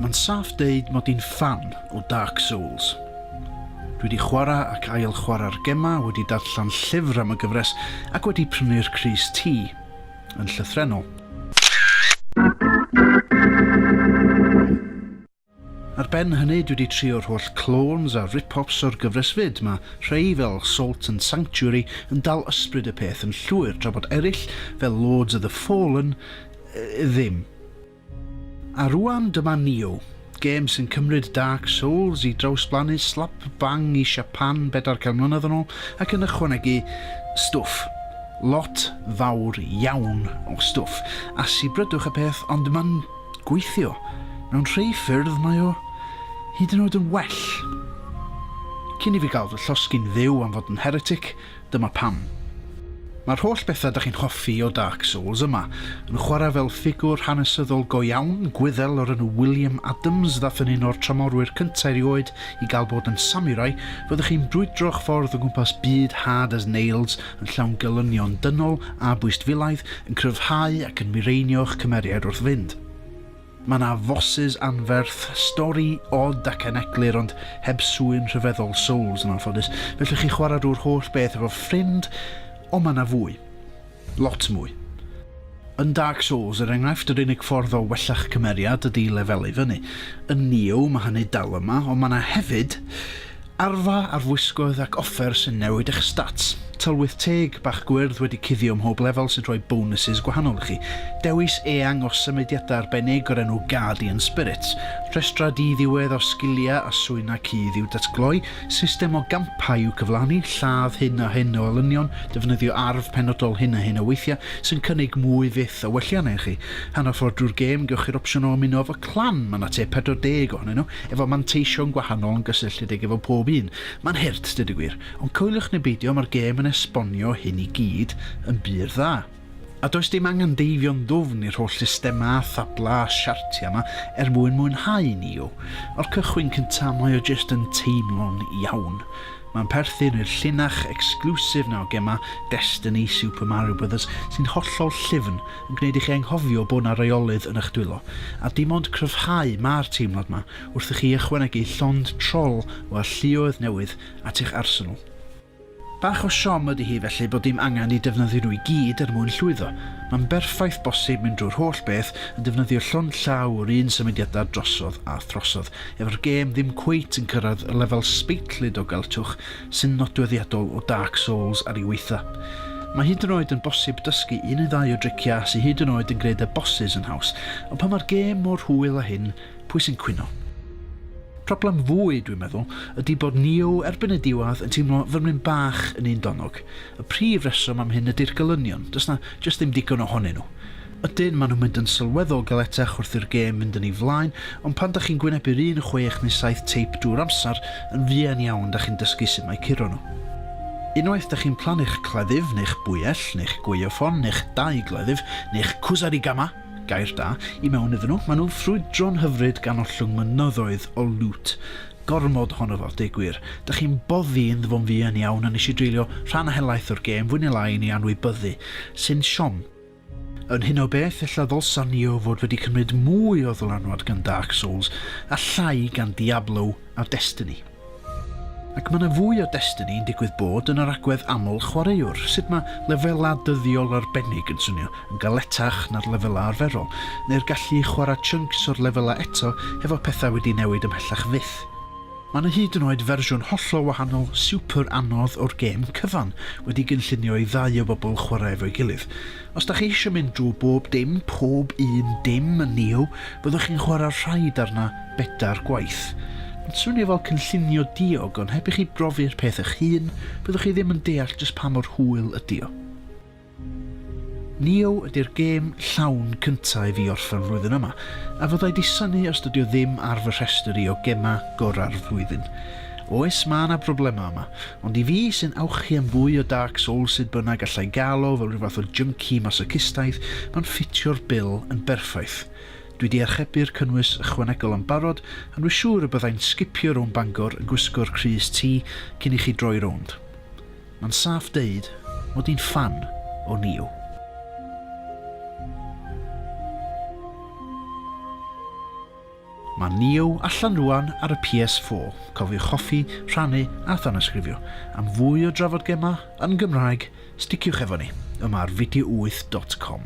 Mae'n saff deud mod i'n ffan o Dark Souls. Dwi wedi chwarae ac ail chwarae'r gemau, wedi darllen llyfr am y gyfres ac wedi prynu'r crys T yn llythrennol. Ar ben hynny, dwi 'di trio'r holl clones a rip-offs o'r gyfres 'fyd, ma' rhei fel Salt and Sanctuary yn dal ysbryd y peth yn llwyr tra bod eryll, fel Lords of the Fallen, ddim. A rŵan dyma Nioh, gêm sy'n cymryd Dark Souls i drawsblannu slap bang i Siapan bedair can mlynedd yn ôl ac yn ychwanegu stwff, lot fawr iawn o stwff, a sibrydwch y peth ond ma'n gweithio, mewn rhei ffyrdd mae o hyd yn oed yn well. Cyn i fi gael fy llosgi'n dduw am fod yn heretic, dyma pam. Mae'r holl bethau da chi'n hoffi o Dark Souls yma, yn chwarae fel ffigwr hanesyddol go iawn, Gwyddel o'r enw William Adams ddath yn un o'r tramorwyr cynta' erioed i gael bod yn samurai, fyddwch chi'n brwydro'ch ffordd o gwmpas byd hard as nails yn llawn gelynion dynol a bwystfilaidd, yn cryfhau ac yn mireinio'ch cymeriad wrth fynd. Mae yna fosys anferth, stori od ac aneglur ond heb sŵyn rhyfeddol Souls yn anffodus, felly chi chwarae drwy'r holl beth efo ffrind, ond mae yna fwy. Lot mwy. Yn Dark Souls, er enghraifft, yr unig ffordd o wella'ch cymeriad ydi i lefelau fyny. Yn Nioh, mae hynny dal yma, ond mae yna hefyd Arfa ar wisgoedd ac offer sy'n newid eich stats. Tylwyth teg bach gwyrdd wedi cuddio mhob lefel sy'n rhoi bonwsys gwahanol i chi. Dewis eang o symudiadau arbennig o'r enw Guardian Spirits. Rhestrau di-ddiwedd o sgiliau a swynau cudd i'w datgloi. System o gampau i'w cyflawni. Lladd hyn a hyn o olynion. Defnyddio arf penodol hyn a hyn o weithiau sy'n cynnig mwy fyth o welliannau i chi. Hanner ffordd drwy'r gêm, gewch chi'r opsiwn o ymuno efo clan, mae 'na tua 40 ohonyn nhw, efo manteision gwahanol yn gysylltiedig efo pob un. Ma'n hurt, deud y gwir, ond coeliwch neu beidio ma'r gêm yn esbonio hyn i gyd yn bur dda. A does dim angen deifio'n ddwfn i'r holl systema a thabla a siartia ma er mwyn mwynhau Neo. O'r cychwyn cynta mae o jyst yn teimlo'n iawn. Ma'n perthyn i'r llinach exclusive na o gema Destiny, Super Mario Brothers sy'n hollol llyfn yn gwneud i chi anghofio bod 'na reolydd yn eich dwylo, a dim ond cryfhau ma'r teimlad 'ma wrth i chi ychwanegu llond trol o alluoedd newydd at eich arsenal. Bach o siom ydi hi felly bod dim angen i defnyddio nhw i gyd er mwyn llwyddo. Mae'n berffaith bosib mynd drwy'r holl beth yn defnyddio llond llaw o'r un symudiadau drosodd a throsodd, efo'r gêm ddim cweit yn cyrraedd y lefel sbeitlyd o gelltwch sy'n nodweddiadol o Dark Souls ar ei waetha. Mae hyd yn oed yn bosib dysgu un neu ddau o driciau sy hyd yn oed yn gwneud y bosses yn haws, ond pan mae'r gêm mor hwyl â hyn, pwy sy'n cwyno? Problem fwy, dwi'n meddwl, ydy bod Neo erbyn y diwedd yn teimlo fel mynd bach yn un donog. Y prif reswm am hyn ydy'r gelynion, does 'na jyst ddim digon ohonyn nhw. Ydyn, maen nhw'n mynd yn sylweddol galetach wrth i'r gêm fynd yn ei flaen, ond pan 'da chi'n gwynebu'r un chwech neu saith teip drwy'r amser, yn fuan iawn 'da chi'n dysgu sut mae curo nhw. Unwaith 'da chi'n plannu'ch cleddyf, neu'ch bwyell, neu'ch gwaywffon, neu'ch dau gleddyf, neu'ch kusarigama, gair da, i mewn iddyn nhw, maen nhw'n ffrwydro'n hyfryd gan ollwng mynyddoedd o lŵt. Gormod ohono fo, deu gwir. 'Da chi'n boddi ynddo fo'n fuan iawn, a nes i dreulio rhan helaeth o'r gêm, fwy neu lai, yn ei anwybyddu. Sy'n siom. Yn hyn o beth, ella ddylsan ni o fod wedi cymryd mwy o ddylanwad gan Dark Souls a llai gan Diablo a Destiny. Ac mae 'na fwy o Destiny yn digwydd bod yn yr agwedd aml chwaraewr, sut mae lefelau dyddiol arbennig yn swnio yn galetach na'r lefelau arferol, neu'r gallu i chwarae chunks o'r lefelau eto hefo pethau wedi newid ymhellach fyth. Mae 'na hyd yn oed fersiwn hollol wahanol super anodd o'r gêm cyfan wedi gynllunio i ddau o bobl chwarae efo'i gilydd. Os 'da chi eisiau mynd drwy bob dim, pob un dim yn Neo, fyddwch chi'n chwarae'r rhaid arna bedair gwaith. Mae'n swnio fel cynllunio diog ond heb i chi brofi'r peth eich hun, fyddwch chi ddim yn deall jyst pa mor hwyl ydi o. Neo ydy'r gêm llawn cynta i fi orffen flwyddyn yma, a fyddai disynu os dydio ddim ar fy rhestr i o gemau gora'r flwyddyn. Oes ma na broblemau yma, ond i fi sy'n awchu am fwy o Dark Souls sud bynnag allai gael o fel rhyw fath o junkie masocistaidd, ma'n ffitio'r bil yn berffaith. Dwi di archebu'r cynnwys ychwanegol yn barod, a dwi siŵr y byddai'n sgipio rownd Bangor yn gwisgo'r crys T cyn i chi droi rownd. Ma'n saff deud mod i'n ffan o Neo. Mae Neo allan rwan ar y PS4, cofiwch hoffi, rhannu a thanysgrifio. Am fwy o drafod gemau yn Gymraeg, sticiwch efo ni, yma ar video8 dot com.